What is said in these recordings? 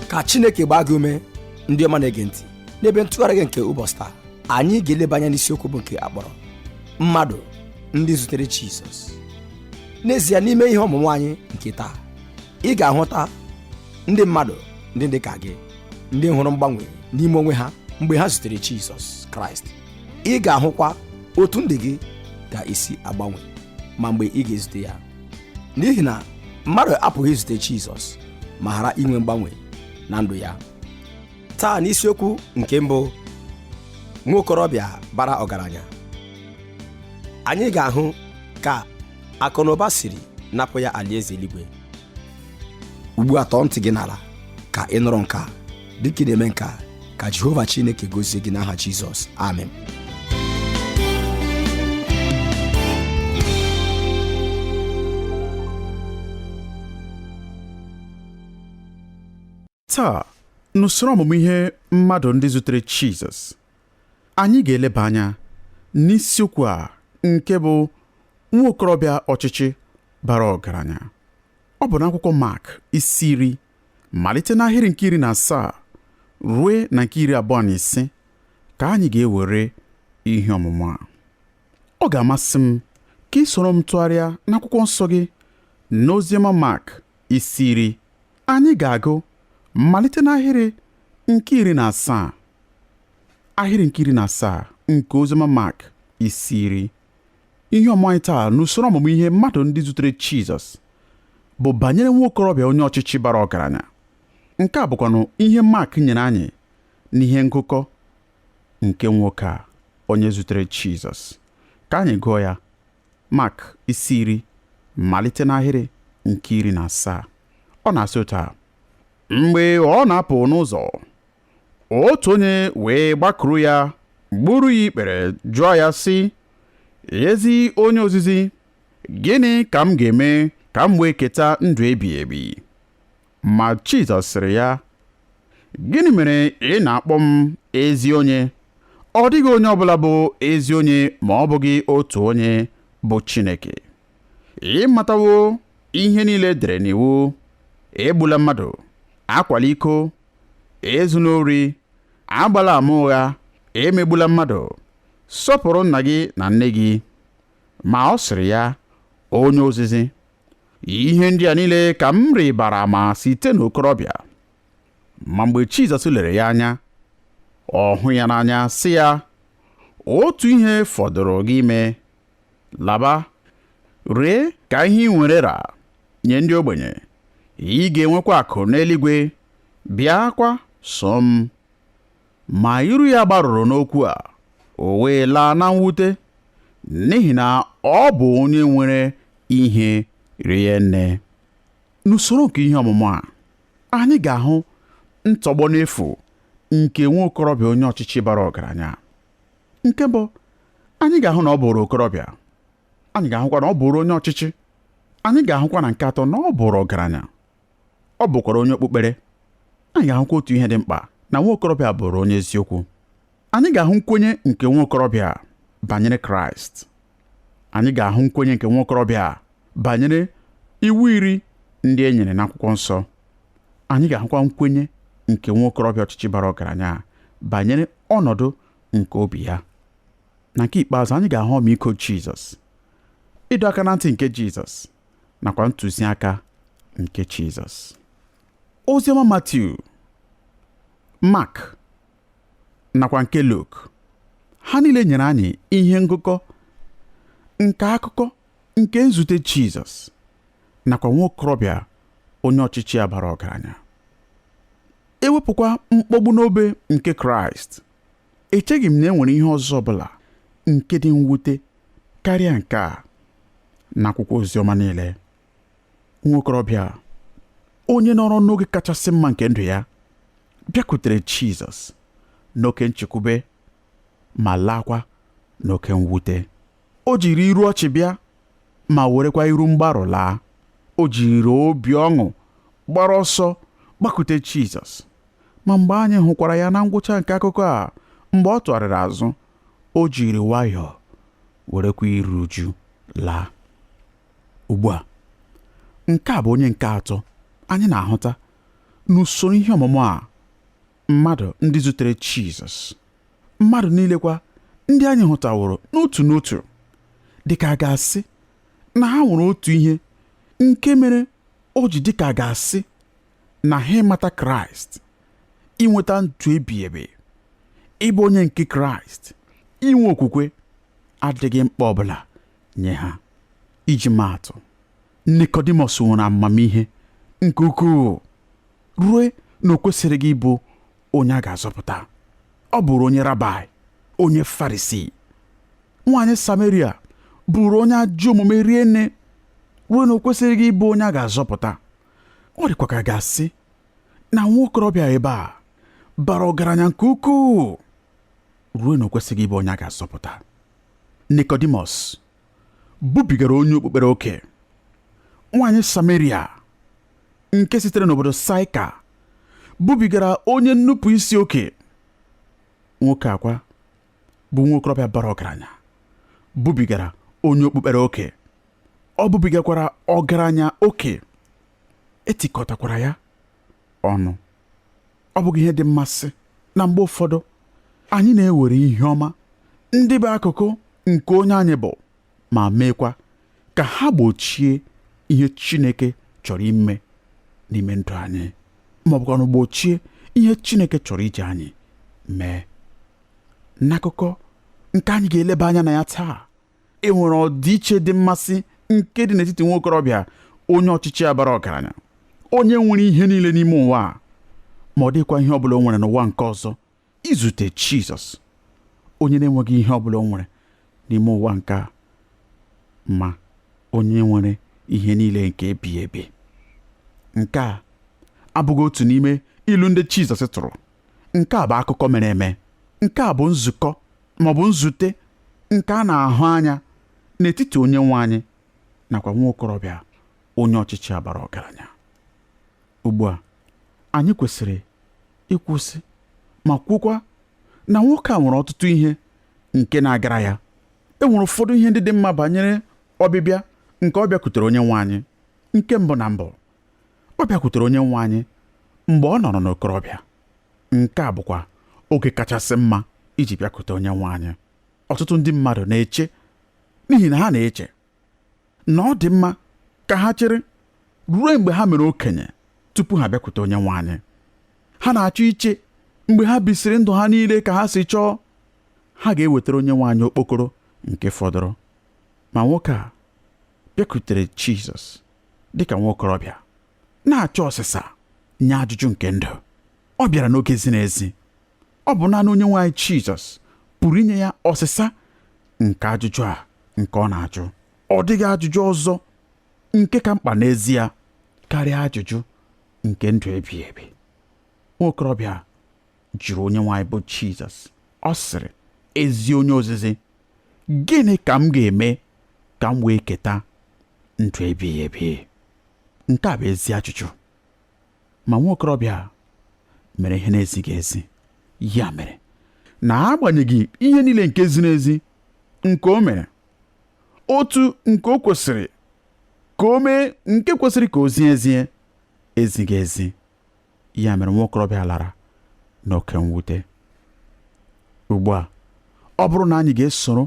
ka chineke gbaa gị ume ndị ọma na-ege ntị n'ebe ntụgharị gị nke ụbọchị taa anyị ga-eleba anya n'isiokwu bụ nke a kpọrọ mmadụ ndị zutere jizọs n'ezie n'ime ihe ọmụmụ anyị nke taa ị ga-ahụta ndị mmadụ ndị dị ka gị ndị hụrụ mgbanwe n'ime onwe ha mgbe ha zutere jizọs kraịst ị ga-ahụkwa otu ndụ gị ga-esi agbanwe ma mgbe ị ga-ezute ya n'ihi na mmadụ apụghị izute Jizọs ma ghara inwe mgbanwe na ndụ ya taa n'isiokwu nke mbụ nwa okorobịa bara ọgaranya anyị ga-ahụ ka akụnụba siri napụ ya alaeze eluigwe ugbu a tọọ ntị gị n'ala ka ị nụrụ nke a dịka ị na-eme nke a ka jehova chineke gozie gị n'aha jizọs amen taa n'usoro ọmụmụ ihe mmadụ ndị zutere jizọs anyị ga-eleba anya n'isiokwu a nke bụ nwa okorobịa ọchịchị bara ọgaranya ọ bụ n'akwụkwọ mak isi iri malite n'ahịrị nke iri na asaa rue na nke iri abụọ na ise ka anyị ga-ewere ihe ọmụmụ a ọ ga-amasị m ka ị soro m tụgharịa n'akwụkwọ nsọ gị n'oziọma Mak isi iri anyị ga-agụ malite n'ahịrị nke iri na asaa ahịrị nke iri na asaa nke oziọma Mak isi iri ihe ọmụmụ anyị taa n'usoro ọmụmụ ihe mmadụ ndị zutere Jizọs bụ banyere nwa okorobịa onye ọchịchị bara ọgaranya nke a bụkwanụ ihe Mak nyere anyị n'ihe ngụkọ nke nwoke a onye zutere Jizọs ka anyị gụọ ya Mak isi iri malite n'ahịrị nke iri na asaa ọ na-asị otu a mgbe ọ na-apụ n'ụzọ otu onye wee gbakuru ya gburu ya ikpere jụọ ya sị ezi onye ozizi gịnị ka m ga-eme ka m wee keta ndụ ebighị ebi ma Jizọs sịrị ya gịnị mere ị na-akpọ m ezi onye ọ dịghị onye ọbụla bụ ezi onye ma ọ bụghị otu onye bụ Chineke ị matawo ihe niile e dere n'iwu egbula mmadụ akwala iko ezula ori agbala ama ụgha emegbula mmadụ sọpụrụ nna gị na nne gị ma ọ sịrị ya onye ozizi ihe ndị a niile ka m rịbara ama site n'okorobịa ma mgbe Jizọs lere ya anya ọ hụ ya n'anya sị ya otu ihe fọdụrụ gị ime laba ree ka ihe i nwere ra nye ndị ogbenye ị ga-enwekwa akụ n'eluigwe bịakwa so m ma iru ya gbarụrụ n'okwu a o wee laa na mwute n'ihi na ọ bụ onye nwere ihe rie nne n'usoro nke ihe ọmụmụ a anyị ga-ahụ ntọgbọ n'efu nke nwa okorobịa onye ọchịchị bara ọgaranya a nke mbụ anyị ga-ahụ na ọ bụrụ okorobịa anyị ga-ahụkwa na ọ bụrụ onye ọchịchị anyị ga-ahụkwa na nke atọ na ọ bụrụ ọgaranya ọ bụkwara onye okpukpere anyị ga-ahụkwa otu ihe dị mkpa na nwa okorobịa bụrụ onye eziokwu anyị ga-ahụ nkwenye nke nwa okorobịa a banyere Kraịst anyị ga-ahụ nkwenye nke nwa okorobịa a banyere iwu iri ndị e nyere n'akwụkwọ nsọ anyị ga-ahụkwa nkwenye nke nwa okorobịa ọchịchị bara ọgaranya a banyere ọnọdụ nke obi ya na nke ikpeazụ anyị ga-ahụ ọmịiko Jizọs ịdọ aka na ntị nke Jizọs nakwa ntụziaka nke Jizọs oziọma Matiu Mak nakwa nke Luk ha niile nyere anyị ihe ngụkọ nke akụkọ nke nzute Jizọs nakwa nwa okorobịa onye ọchịchị a bara ọgaranya e wepụkwa mkpọgbu n'obe nke Kraịst echeghị m na e nwere ihe ọzọ ọbụla nke dị mwute karịa nke a n'akwụkwọ oziọma niile nwa okorobịa a onye nọrọ n'oge kachasị mma nke ndụ ya bịakwutere Jizọs n'oke nchekwube ma laakwa n'oke mwute o jiri iru ọchị bịa ma werekwa iru mgbarụ laa o jiri obi ọṅụ gbara ọsọ gbakute Jizọs ma mgbe anyị hụkwara ya na ngwụcha nke akụkọ a mgbe ọ tụgharịrị azụ o jiri nwayọọ werekwa iru uju laa ugbu a nke a bụ onye nke atọ anyị na-ahụta n'usoro ihe ọmụmụ a mmadụ ndị zutere Jizọs mmadụ niile kwa ndị anyị hụtaworo n'otu n'otu dị ka a ga-asị na ha nwere otu ihe nke mere o ji dị ka a ga-asị na ha ịmata Kraịst inweta ndụ ebighị ebi ịbụ onye nke Kraịst inwe okwukwe adịghị mkpa ọbụla nye ha iji maatụ Nikọdimọs nwere amamihe nke ukwuu ruo na o kwesịrịghị ịbụ onye a ga-azọpụta. Ọ bụụrụ onye rabaị, onye Farisii. Nwaanyị Sameria bụụrụ onye ajọ omume rie nne ruo na o kwesịrịghị ịbụ onye a ga-azọpụta. Ọ dịkwa ka a ga-asị na nwa okorobịa ebe a bara ọgaranya nke ukwuu ruo na o kwesịrịghị ịbụ onye a ga-azọpụta. Nikọdimọs bụbigara onye okpukpere oke nwaanyị Sameria nke sitere n'obodo Saịka bụbigara onye nnupụ isi oke nwoke a kwa bụ nwa okorobịa bara ọgaranya bụbigara onye okpukpere oke ọ bụbigakwara ọgaranya oke e tikọtakwara ya ọnụ ọ bụghị ihe dị mmasị na mgbe ụfọdụ anyị na-ewere ihe ọma ndị bụ akụkụ nke onye anyị bụ ma meekwa ka ha gbochie ihe Chineke chọrọ ime n'ime ndụ anyị ma ọ bụkwanụ gbochie ihe Chineke chọrọ iji anyị mee n'akụkọ nke anyị ga-eleba anya na ya taa e nwere ọdịiche dị mmasị nke dị n'etiti nwa okorobịa onye ọchịchị a bara ọgaranya onye nwere ihe niile n'ime ụwa a ma ọ dịkwa ihe ọbụla o nwere n'ụwa nke ọzọ izute Jizọs onye na-enweghị ihe ọbụla o nwere n'ime ụwa nke a ma onye nwere ihe niile nke ebighị ebi nke a abụghị otu n'ime ilu ndị Jizọs tụrụ nke a bụ akụkọ mere eme nke a bụ nzukọ ma ọ bụ nzute nke a na-ahụ anya n'etiti onye nwe anyị nakwa nwa okorobịa onye ọchịchị a bara ọgaranya ugbu a anyị kwesịrị ịkwụsị ma kwukwa na nwoke a nwere ọtụtụ ihe nke na-agara ya e nwere ụfọdụ ihe ndị dị mma banyere ọbịbịa nke ọ bịakwutere onye nwe anyị nke mbụ na mbụ ọ bịakwutere onye nwe anyị mgbe ọ nọrọ n'okorobịa Nke a bụkwa oge kachasị mma iji bịakute Onyenwe anyị. Ọtụtụ ndị mmadụ na-eche n'ihi na ha na-eche na ọ dị mma ka ha chere ruo mgbe ha mere okenye tupu ha bịakwute Onyenwe anyị. Ha na-achọ iche mgbe ha bisịrị ndụ ha niile ka ha si chọọ, ha ga-ewetara Onyenwe anyị okpokoro nke fọdụrụ. Ma nwoke a bịakwutere Jizọs dịka nwa okorobịa. na-achọ ọsịsa nye ajụjụ nke ndụ ọ bịara n'oge ziri ezi ọ bụ naanị onye nwe anyị Jizọs pụrụ inye ya ọsịsa nke ajụjụ a nke ọ na-ajụ ọ dịghị ajụjụ ọzọ nke ka mkpa n'ezie karịa ajụjụ nke ndụ ebighị ebi nwa okorobịa jụrụ onye nwe anyị bụ Jizọs ọ sịrị ezi onye ozizi gịnị ka m ga-eme ka m wee keta ndụ ebighị ebi nke a bụ ezi ajụjụ ma nwa okorobịa mere ihe na-ezighị ezi ya mere na agbanyeghị ihe niile nke ziri ezi nke o mere otu nke o kwesịrị ka o mee nke kwesịrị ka o zie ezie ezighị ezi ya mere nwa okorobịa lara n'oke mwute ugbu a ọ bụrụ na anyị ga-esoro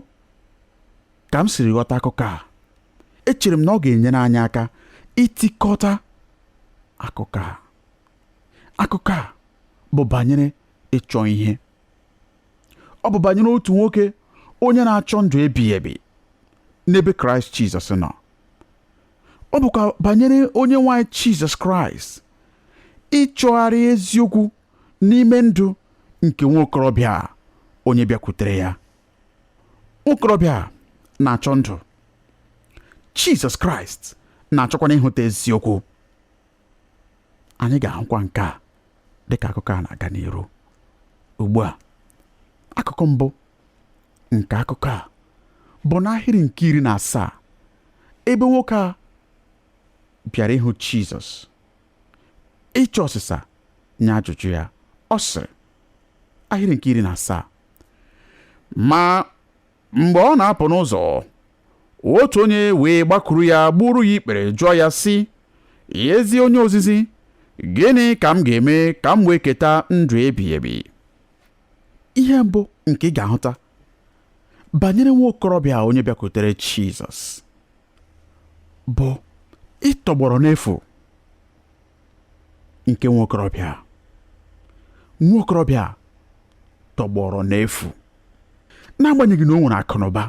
ka m siri ghọta akụkọ a echere m na ọ ga-enyere anyị aka itikọta akụkọ a akụkọ a bụ banyere ịchọ ihe ọ bụ banyere otu nwoke onye na-achọ ndụ ebighị ebi n'ebe kraịst jizọs nọ ọ bụkwa banyere onye nwe anyị jizọs kraịst ịchọgharị eziokwu n'ime ndụ nke nwa okorobịa onye bịakwutere ya nwokorobịa na-achọ ndụ jizọs kraịst na-achọkwanụ ịhụta eziokwu anyị ga-ahụkwa nke a dịka akụkọ a na-aga n'iru ugbu a akụkụ mbụ nke akụkọ a bụ n'ahịrị nke iri na asaa ebe nwoke a bịara ịhụ Jizọs ịchọ ọsịsa nye ajụjụ ya ọ sịrị ahịrị nke iri na asaa ma mgbe ọ na-apụ n'ụzọ otu onye wee gbakuru ya gbuuru ya ikpere jụọ ya sị ezi onye ozizi gịnị ka m ga-eme ka m wee keta ndụ ebighị ebi ihe mbụ nke ị ga-ahụta banyere nwa okorobịa onye bịakwutere Jizọs bụ ịtọgbọrọ n'efu nke nwa okorobịa nwa okorobịa tọgbọrọ n'efu n'agbanyeghị na o nwere akụnụba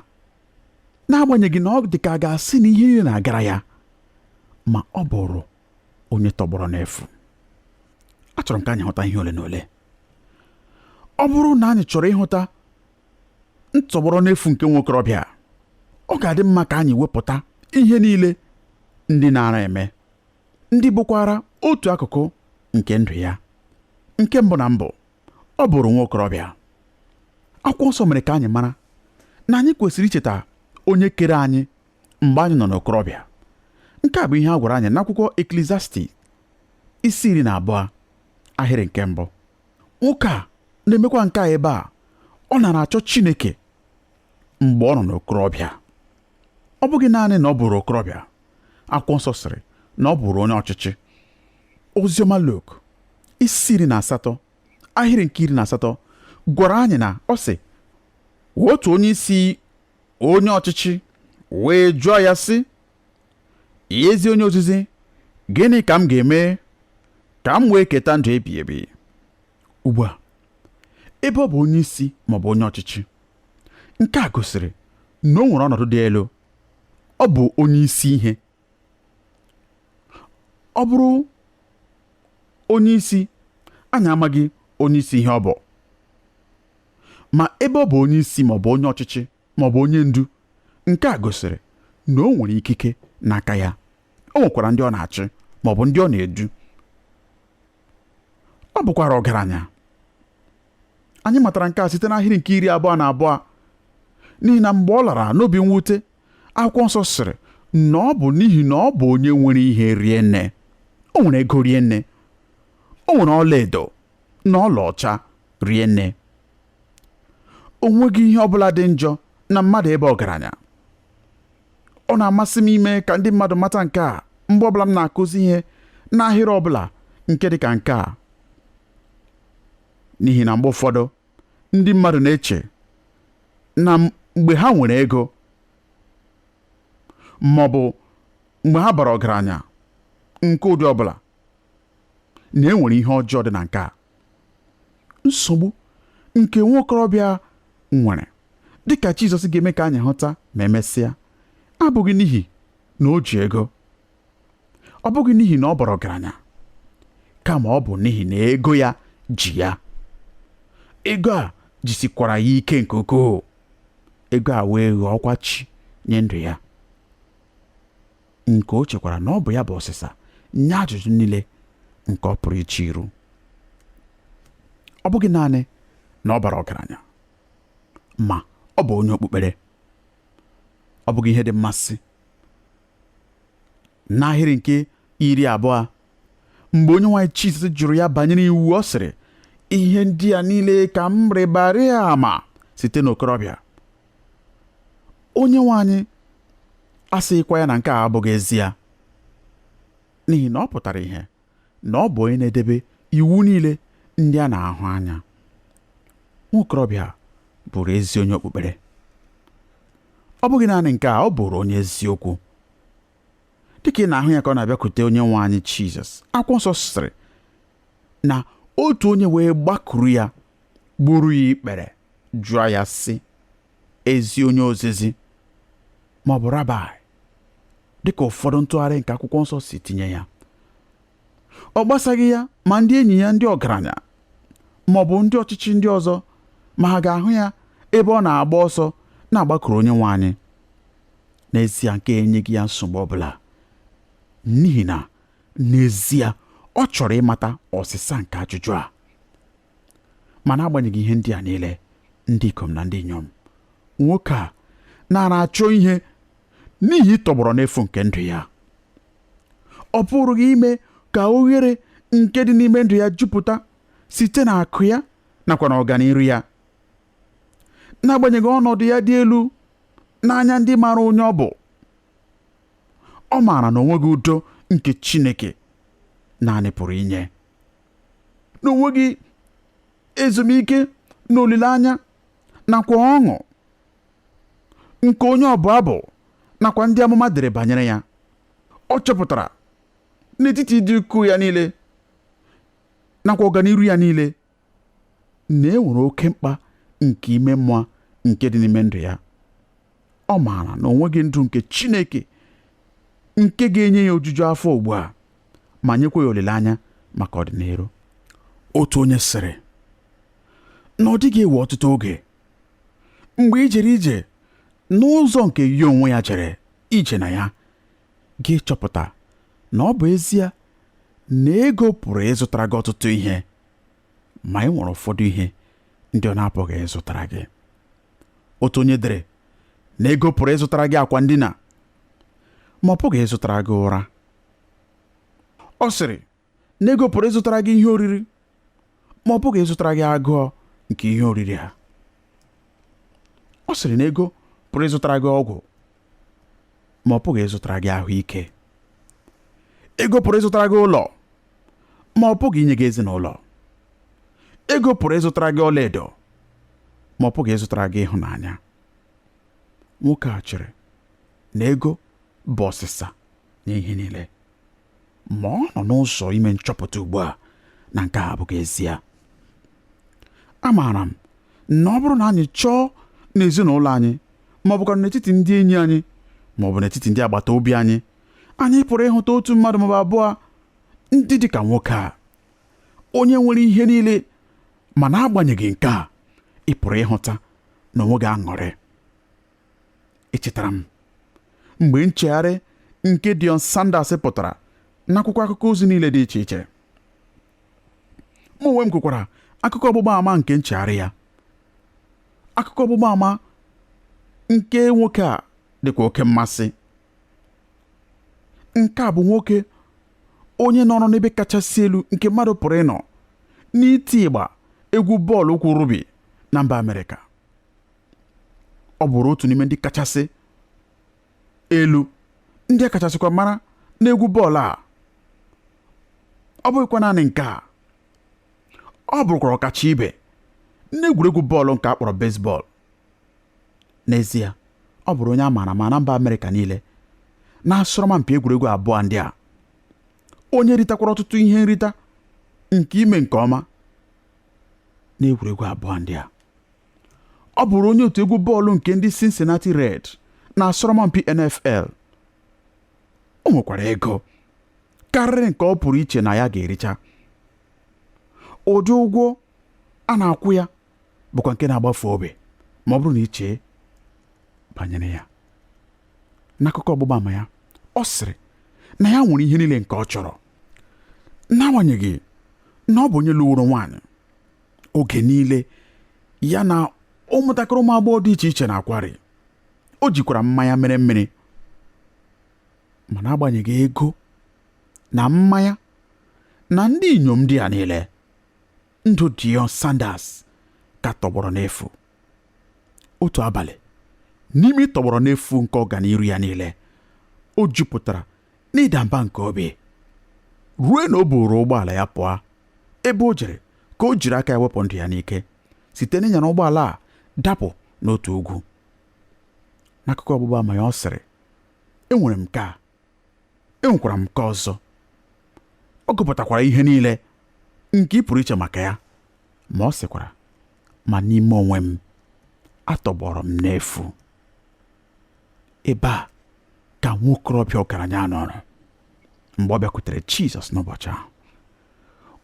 n'agbanyeghị na ọ dị ka a ga-asị na ihe niile na-agara ya ma ọ bụrụ onye tọgbọrọ n'efu achọrọ m ka anyị hụta ihe ole na ole ọ bụrụ na anyị chọrọ ịhụta ntọgbọrọ n'efu nke nwokorobịa ọ ga-adị mma ka anyị wepụta ihe niile ndị na-ara eme ndị bụkwara otu akụkụ nke ndụ ya nke mbụ na mbụ ọ bụrụ nwa okorobịa akwụkwọ nsọ mere ka anyị mara na anyị kwesịrị icheta onye kere anyị mgbe anyị nọ n'okorobịa nke a bụ ihe a gwara anyị n'akwụkwọ Eklesiastis isi iri na abụọ ahịrị nke mbụ nwoke a na-emekwa nke a ebe a ọ nara achọ Chineke mgbe ọ nọ n'okorobịa ọ bụghị naanị na ọ bụrụ okorobịa akwụkwọ nsọ sịrị na ọ bụrụ onye ọchịchị oziọma Luk isi iri na asatọ ahịrị nke iri na asatọ gwara anyị na ọ sị otu onye isi onye ọchịchị wee jụọ ya sị ezi onye ozizi gịnị ka m ga-eme ka m wee keta ndụ ebighị ebi ugbu a ebe ọ bụ onye isi maọbụ onye ọchịchị Nke a gosiri na o nwere ọnọdụ dị elu. Ọ bụ onye isi ihe. Ọ bụrụ onye isi, anyị amaghị onye isi ihe ọ bụ. Ma ebe ọ bụ onye isi ma ọ bụ onye ọchịchị ma ọ bụ onye ndu, nke a gosiri na o nwere ikike n'aka ya. O nwekwara ndị ọ na-achị ma ọ bụ ndị ọ na-edu. ọ bụkwara ọgaranya anyị matara nke a site n'ahịrị nke iri abụọ na abụọ n'ihi na mgbe ọ lara n'obi mwute akwụkwọ nsọ sịrị na ọ bụ n'ihi na ọ bụ onye nwere ihe rie nne o nwere ego rie nne o nwere ọlaedo na ọlaọcha rie nne o nweghị ihe ọ bụla dị njọ na mmadụ ịba ọgaranya ọ na-amasị m ime ka ndị mmadụ mata nke a mgbe ọbụla m na-akụzi ihe n'ahịrị ọbụla nke dị ka nke a n'ihi na mgbe ụfọdụ ndị mmadụ na-eche na mgbe ha nwere ego ma ọ bụ mgbe ha bara ọgaranya nke ụdị ọbụla na e nwere ihe ọjọọ dị na nke a nsogbu nke nwa okorobịa nwere dịka Jizọs ga-eme ka anyị hụta ma emesịa abụghị n'ihi na o ji ego ọ bụghị n'ihi na ọ bara ọgaranya kama ọ bụ n'ihi na ego ya ji ya ego a jisikwara ya ike nke ukwuu ego a wee ghọọkwa chi nye ndụ ya nke o chekwara na ọ bụ ya bụ ọsịsa nye ajụjụ niile nke ọ pụrụ iche iru ọ bụghị naanị na ọ bara ọgaranya ma ọ bụ onye okpukpere ọ bụghị ihe dị mmasị n'ahịrị nke iri abụọ mgbe onye nwe anyị Jizọs jụrụ ya banyere iwu ọ sịrị ihe ndị a niile ka m rịbara ama site n'okorobịa onye nwe anyị asịghịkwa ya na nke a abụghị ezie n'ihi na ọ pụtara ihe na ọ bụ onye na-edebe iwu niile ndị a na-ahụ anya nwa okorobịa bụrụ ezi onye okpukpere ọ bụghị naanị nke a ọ bụrụ onye eziokwu dịka ị na-ahụ ya ka ọ na-abịakwute onye nwe anyị Jizọs akwụkwọ nsọ sịrị na otu onye wee gbakuru ya gburu ya ikpere jụọ ya sị ezi onye ozizi ma ọ bụ rabai dịka ụfọdụ ntụgharị nke akwụkwọ nsọ si tinye ya ọ gbasaghị ya ma ndị enyi ya ndị ọgaranya ma ọ bụ ndị ọchịchị ndị ọzọ ma ha ga-ahụ ya ebe ọ na-agba ọsọ na-agbakuru onye nwe anyị n'ezie nke enyeghị ya nsogbu ọ bụla n'ihi na n'ezie ọ chọrọ ịmata ọsịsa nke ajụjụ a ma n'agbanyeghị ihe ndị a niile ndị ikom na ndị inyom nwoke a nara achọ ihe n'ihi ịtọgbọrọ n'efu nke ndụ ya ọ pụrụghị ime ka oghere nke dị n'ime ndụ ya jupụta site na akụ ya nakwa na ọganiru ya n'agbanyeghị ọnọdụ ya dị elu n'anya ndị maara onye ọ bụ ọ maara na o nweghị udo nke Chineke naanị pụrụ inye na o nweghị ezumike na olileanya nakwa ọṅụ nke onye ọbụ abụ nakwa ndị amụma dere banyere ya ọ chọpụtara n'etiti ịdị ukwuu ya niile nakwa ọganiru ya niile na e nwere oke mkpa nke ime mmụọ nke dị n'ime ndụ ya ọ maara na o nweghị ndụ nke Chineke nke ga-enye ya ojuju afọ ugbu a ma nyekwa ya olileanya maka ọdịniru otu onye sịrị na ọ dịghị ewe ọtụtụ oge mgbe i jere ije n'ụzọ nke ya onwe ya jere ije na ya gị chọpụta na ọ bụ ezie na ego pụrụ ịzụtara gị ọtụtụ ihe ma e nwere ụfọdụ ihe ndị ọ na-apụghị ịzụtara gị otu onye dere na ego pụrụ ịzụtara gị akwa ndina ma ọ pụghị ịzụtara gị ụra ọ sịrị na ego pụrụ ịzụtara gị ihe oriri ma ọ pụghị ịzụtara gị agụọ nke ihe oriri ha ọ sịrị na ego pụrụ ịzụtara gị ọgwụ ma ọ pụghị ịzụtara gị ahụike ego pụrụ ịzụtara gị ụlọ ma ọ pụghị inye gị ezinụlọ ego pụrụ ịzụtara gị ọlaedo ma ọ pụghị ịzụtara gị ịhụnanya nwoke a chere na ego bụ ọsịsa nye ihe niile ma ọ nọ n'ụzọ ime nchọpụta ugbu a na nke a abụghị ezie amaara m na ọ bụrụ na anyị chọọ n'ezinụlọ anyị ma ọ bụkwara n'etiti ndị enyi anyị ma ọ bụ n'etiti ndị agbata obi anyị anyị pụrụ ịhụta otu mmadụ maọbụ abụọ ndị dị ka nwoke a onye nwere ihe niile ma n'agbanyeghị nke a ị pụrụ ịhụta na o nweghị aṅụrị echetara m mgbe nchegharị nke Deion Sanders pụtara n'akwụkwọ akụkọ ozi niile dị iche iche mụ onwe m kwukwara akụkọ ọgbụgba ama nke nchegharị ya akụkọ ọgbụgba ama nke nwoke a dịkwa oke mmasị nke a bụ nwoke onye nọrọ n'ebe kachasị elu nke mmadụ pụrụ ịnọ n'iti ịgba egwu bọọlụ ụkwụ rugby na mba Amerịka ọ bụrụ otu n'ime ndị kachasị elu ndị a kachasịkwa mara n'egwu bọọlụ a ọ bụghịkwa naanị nke a ọ bụrụkwara ọkacha ibe n'egwuregwu bọọlụ nke a kpọrọ baseball n'ezie ọ bụrụ onye a maara ama na mba amerịka niile n'asọrọmpi egwuregwu abụọ ndị a onye ritakwara ọtụtụ ihe nrita nke ime nke ọma n'egwuregwu abụọ ndị a ọ bụrụ onye otu egwu bọọlụ nke ndị Cincinnati Red n'asọrọmpi NFL o nwekwara ego karịrị nke ọ pụrụ iche na ya ga-ericha ụdị ụgwọ a na-akwụ ya bụkwa nke na-agbafe obi ma ọ bụrụ na i chee banyere ya n'akụkọ ọgbụgba ama ya ọ sịrị na ya nwere ihe niile nke ọ chọrọ n'agbanyeghị na ọ bụ onye lụworo nwaanyị oge niile ya na ụmụntakịrị ụmụ agbọghọ dị iche iche na-akwarị o jikwara mmanya mere mmiri ma n'agbanyeghị ego na mmanya na ndị inyom ndị a niile ndụ Deion Sanders ka tọgbọrọ n'efu otu abalị n'ime ịtọgbọrọ n'efu nke ọganiru ya niile o jupụtara n'ịda mba nke obi ruo na o buuru ụgbọala ya pụọ ebe o jere ka o jiri aka ya wepụ ndụ ya n'ike site n'ịnyara ụgbọala a dapụ n'otu ugwu n'akụkọ ọgbụgba ama ya ọ sịrị enwere m nke a enwekwara m nke ọzọ ọ gụpụtakwara ihe niile nke ị pụrụ iche maka ya ma ọ sịkwara ma n'ime onwe m atọgbọrọ m n'efu ebe a ka nwa okorobịa ọgaranya nọrọ mgbe ọ bịakwutere Jizọs n'ụbọchị ahụ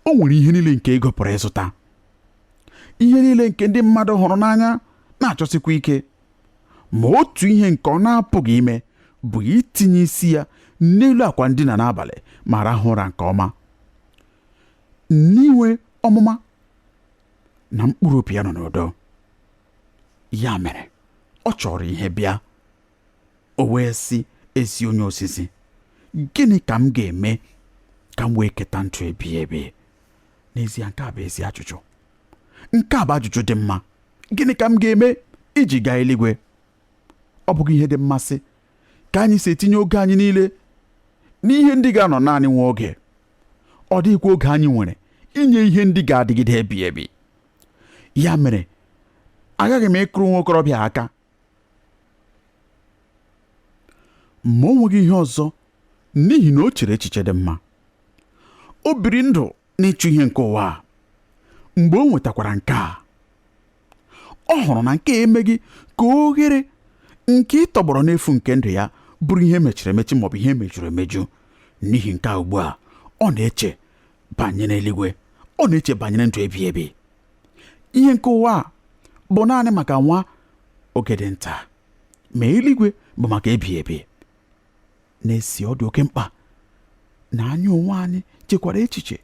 o nwere ihe niile nke ego pụrụ ịzụta ihe niile nke ndị mmadụ hụrụ n'anya na-achọsikwa ike ma otu ihe nke ọ na-apụghị ime bụ itinye isi ya n'elu akwa ndina n'abalị ma rahụ ụra nke ọma n'inwe ọmụma na mkpụrụ obi ya nọ n'udo ya mere ọ chọrọ ihe bịa o wee sị ezi onye ozizi gịnị ka m ga-eme ka m wee keta ndụ ebighị ebi n'ezie nke a bụ ezi ajụjụ nke a bụ ajụjụ dị mma gịnị ka m ga-eme iji gaa eluigwe ọ bụghị ihe dị mmasị ka anyị si etinye oge anyị niile n'ihe ndị ga-anọ naanị nwa oge ọ dịghịkwa oge anyị nwere inye ihe ndị ga-adịgide ebi ebi ya mere aghaghị m ịkụrụ nwa okorobịa aka ma o nweghị ihe ọzọ n'ihi na o chere echiche dị mma o biri ndụ n'ịchụ ihe nke ụwa a mgbe o nwetakwara nke a ọ hụrụ na nke a emeghị ka oghere nke ịtọgbọrọ n'efu nke ndụ ya bụrụ ihe mechiri emechi maọbụ ihe mejuru emeju n'ihi nke a ugbu a ọ na-eche banyere eluigwe ọ na-eche banyere ndụ ebighị ebi ihe nke ụwa a bụ naanị maka nwa oge dị nta ma eluigwe bụ maka ebighị ebi N'ezie ọ dị oke mkpa na anyị onwe anyị chekwara echiche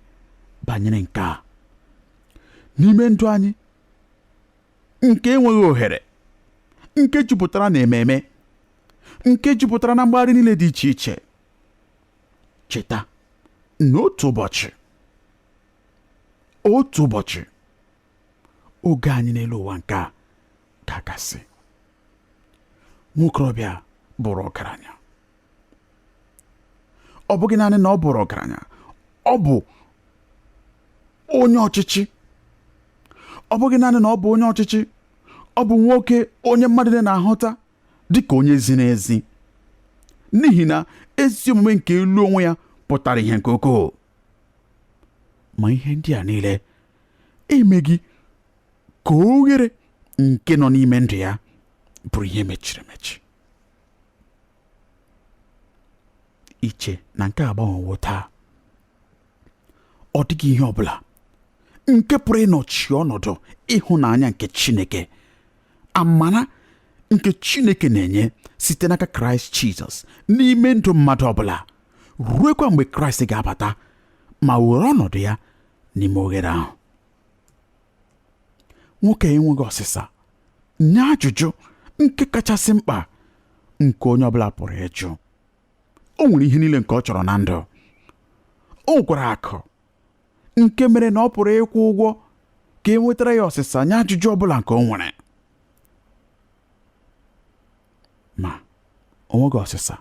banyere nke a n'ime ndụ anyị nke enweghị ohere nke jupụtara na ememe nke jupụtara na mgbagharị niile dị iche iche cheta na otu ụbọchị otu ụbọchị oge anyị n'elu ụwa nke a ga-agasị nwokorobịa bụrụ ọgaranya ọ bụghị naanị na ọ bụrụ ọgaranya ọ bụ onye ọchịchị ọ bụghị naanị na ọ bụ onye ọchịchị ọ bụ nwoke onye mmadụ na-ahụta dịka onye ziri ezi n'ihi na ezi omume nke elu onwe ya pụtara ihe nke ukwuu ma ihe ndị a niile emeghị ka oghere nke nọ n'ime ndụ ya bụrụ ihe mechiri emechi i che na nke a agbanwewo taa ọ dịghị ihe ọ bụla nke pụrụ ịnọchi ọnọdụ ịhụnanya nke Chineke amara nke Chineke na-enye site n'aka Kraịst Jizọs n'ime ndụ mmadụ ọbụla ruekwa mgbe Kraịst ga-abata ma were ọnọdụ ya n'ime oghere ahụ nwoke enweghị ọsịsa nye ajụjụ nke kachasị mkpa nke onye ọbụla pụrụ ịjụ o nwere ihe niile nke ọ chọrọ na ndụ o nwekwara akụ nke mere na ọ pụrụ ịkwụ ụgwọ ka e nwetara ya ọsịsa nye ajụjụ ọbụla nke o nwere ma o nweghị ọsịsa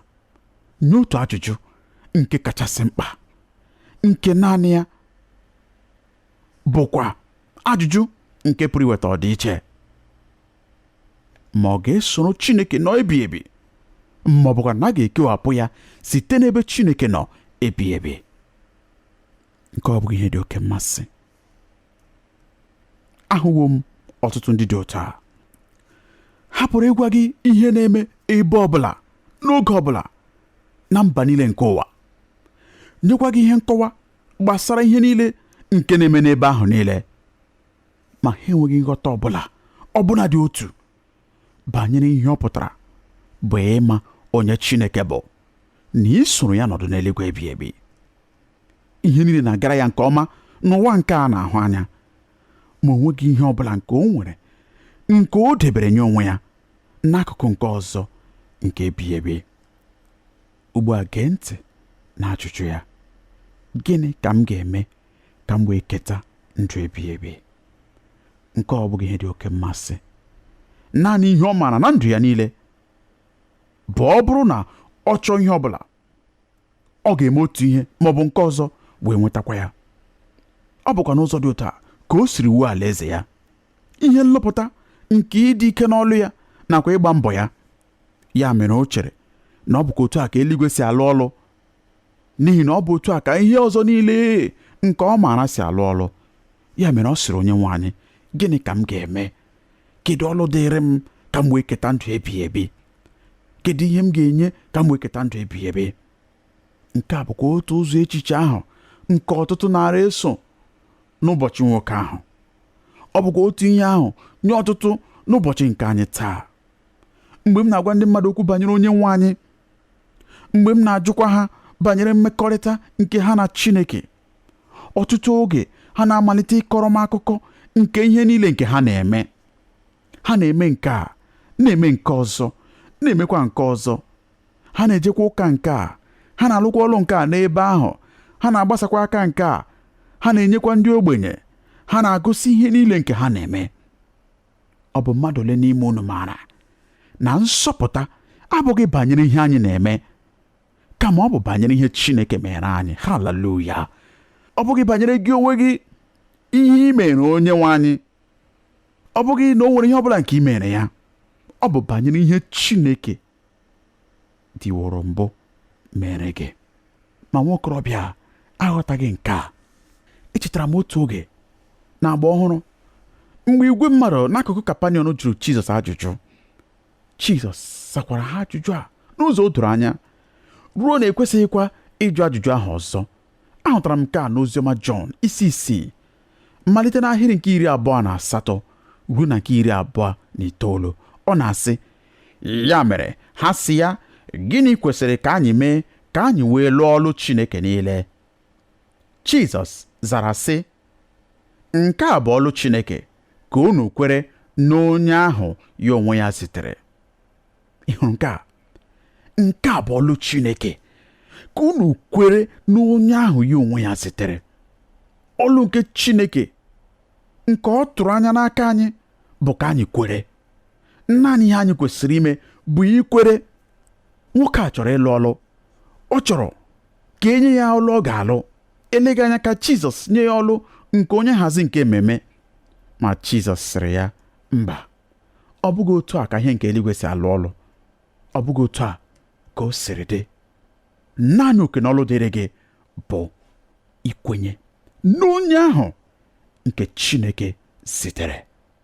nye otu ajụjụ nke kachasị mkpa nke naanị ya bụkwa ajụjụ nke pụrụ iweta ọdịiche ma ọ ga-esoro Chineke nọ ebighị ebi ma ọ bụkwa na a ga-ekewapụ ya site n'ebe Chineke nọ ebighị ebi nke a ọ bụghị ihe dị oke mmasị ahụwo m ọtụtụ ndị dị otu a ha pụrụ ịgwa gị ihe na-eme ebe ọbụla n'oge ọbụla na mba niile nke ụwa nyekwa gị ihe nkọwa gbasara ihe niile nke na-eme n'ebe ahụ niile ma ha enweghị nghọta ọbụla ọbụna dị otu banyere ihe ọ pụtara bụ ịma onye Chineke bụ na isoro ya nọdụ n'eluigwe ebighị ebi ihe niile na-agara ya nke ọma n'ụwa nke a na-ahụ anya ma o nweghị ihe ọbụla nke o nwere nke o debere nye onwe ya n'akụkụ nke ọzọ nke ebighị ebi Ugbu a gee ntị n'ajụjụ ya, Gịnị ka m ga-eme ka m wee keta ndụ ebighị ebi? Nke a ọ bụghị ihe dị oke mmasị. Naanị ihe ọ maara na ndụ ya niile bụ ọ bụrụ na ọ chọọ ihe ọ bụla ọ ga-eme otu ihe ma ọ bụ nke ọzọ wee nwetakwa ya ọ bụkwa n'ụzọ dị otu a ka o siri wuo alaeze ya ihe nlụpụta nke ịdị ike n'ọlụ ya nakwa ịgba mbọ ya ya mere o chere na ọ bụkwa otu a ka eluigwe si alụ ọlụ n'ihi na ọ bụ otu a ka ihe ọzọ niile nke ọ maara si alụ ọlụ ya mere ọ sịrị onye nwe anyị gịnị ka m ga-eme kedu ọlụ dịrị m ka m wee keta ndụ ebighị ebi kedu ihe m ga-enye ka m wee keta ndụ ebighị ebi nke a bụkwa otu ụzọ echiche ahụ nke ọtụtụ naara eso n'ụbọchị nwoke ahụ ọ bụkwa otu ihe ahụ nye ọtụtụ n'ụbọchị nke anyị taa mgbe m na-agwa ndị mmadụ okwu banyere onye nwe anyị mgbe m na-ajụkwa ha banyere mmekọrịta nke ha na Chineke ọtụtụ oge ha na-amalite ịkọrọ m akụkọ nke ihe niile nke ha na-eme ha na-eme nke a na-eme nke ọzọ na-emekwa nke ọzọ ha na-ejekwa ụka nke a ha na-alụkwa ọlụ nke a n'ebe ahụ ha na-agbasakwa aka nke a ha na-enyekwa ndị ogbenye ha na-agụsị ihe niile nke ha na-eme ọ bụ mmadụ ole n'ime unu maara na nsọpụta abụghị banyere ihe anyị na-eme kama ọ bụ banyere ihe Chineke meere anyị haleluya ọ bụghị banyere gị onwe gị ihe ị mere onye nwe anyị ọ bụghị na o nwere ihe ọ bụla nke ị mere ya ọ bụ banyere ihe Chineke dịworo mbụ mere gị ma nwokorobịa aghọtaghị nke a echetara m otu oge n'agba ọhụrụ mgbe igwe mmadụ n'akụkụ kapaniọm jụrụ jizọs ajụjụ jizọs sakwara ha ajụjụ a n'ụzọ o doro anya ruo na e kwesịghịkwa ịjụ ajụjụ ahụ ọzọ ahụtara m nke a n'oziọma jọn isi isii malite n'ahịrị nke iri abụọ na asatọ ruo na nke iri abụọ na itoolu ọ na-asị ya mere ha sị ya gịnị kwesịrị ka anyị mee ka anyị wee lụọ ọlụ Chineke niile Jizọs zara sị nke a bụ ọlụ Chineke ka unu kwere n'onye ahụ ya onwe ya zitere ị hụrụ nke a nke a bụ ọlụ Chineke ka unu kwere n'onye ahụ ya onwe ya zitere ọlụ nke Chineke nke ọ tụrụ anya n'aka anyị bụ ka anyị kwere naanị ihe anyị kwesịrị ime bụ ikwere nwoke a chọrọ ịlụ ọlụ ọ chọrọ ka e nye ya ọlụ ọ ga-alụ eleghị anya ka Jizọs nye ya ọlụ nke onye nhazi nke ememe ma Jizọs sịrị ya mba ọ bụghị otu a ka ihe nke eluigwe si alụ ọlụ ọ bụghị otu a ka o siri dị naanị oke na ọlụ dịrị gị bụ ikwenye n'onye ahụ nke Chineke zitere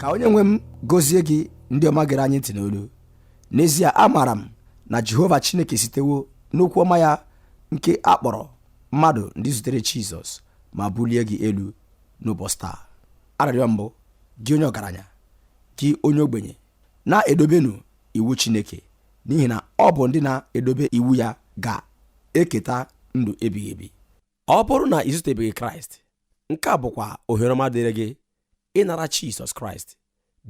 ka onye nwe m gọzie gị ndị ọma gere anyị ntị n'olu n'ezie amaara m na jehova chineke sitewo n'okwu ọma ya nke a kpọrọ mmadụ ndị zutere jizọs ma bulie gị elu n'ụbọchị taa arịrịọ m bụ gị onye ọgaranya gị onye ogbenye na-edobenụ iwu chineke n'ihi na ọ bụ ndị na-edobe iwu ya ga-eketa ndụ ebighị ebi ọ bụrụ na i zutebeghị kraịst nke a bụkwa ohere ọma dịrị gị ịnara Jizọs Kraịst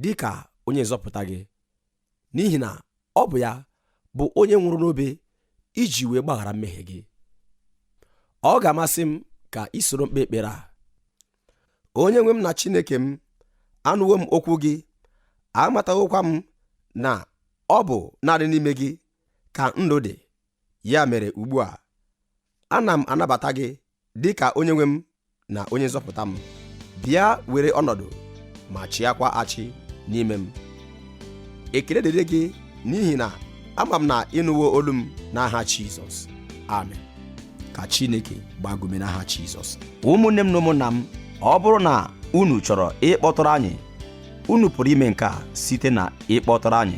dị ka onye nzọpụta gị n'ihi na ọ bụ ya bụ onye nwụrụ n'obe iji wee gbaghara mmehie gị ọ ga-amasị m ka i soro m kpee ekpere a onye nwe m na Chineke m anụwo m okwu gị amatawokwa m na ọ bụ naanị n'ime gị ka ndụ dị ya mere ugbu a ana m anabata gị dị ka onye nwe m na onye nzọpụta m bịa were ọnọdụ ma chịakwa achị n'ime m ekele dịrị gị n'ihi na ama m na ị nụwo olu m n'aha Jizọs amen ka Chineke gbaa gị ume n'aha Jizọs ụmụnne m na ụmụnna m ọ bụrụ na unu chọrọ ịkpọtụrụ anyị unu pụrụ ime nke a site na ịkpọtụrụ anyị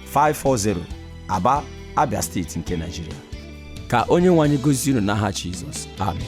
540 Aba Abia steeti nke Nigeria ka onye nwe anyị gọzie unu n'aha Jizọs amen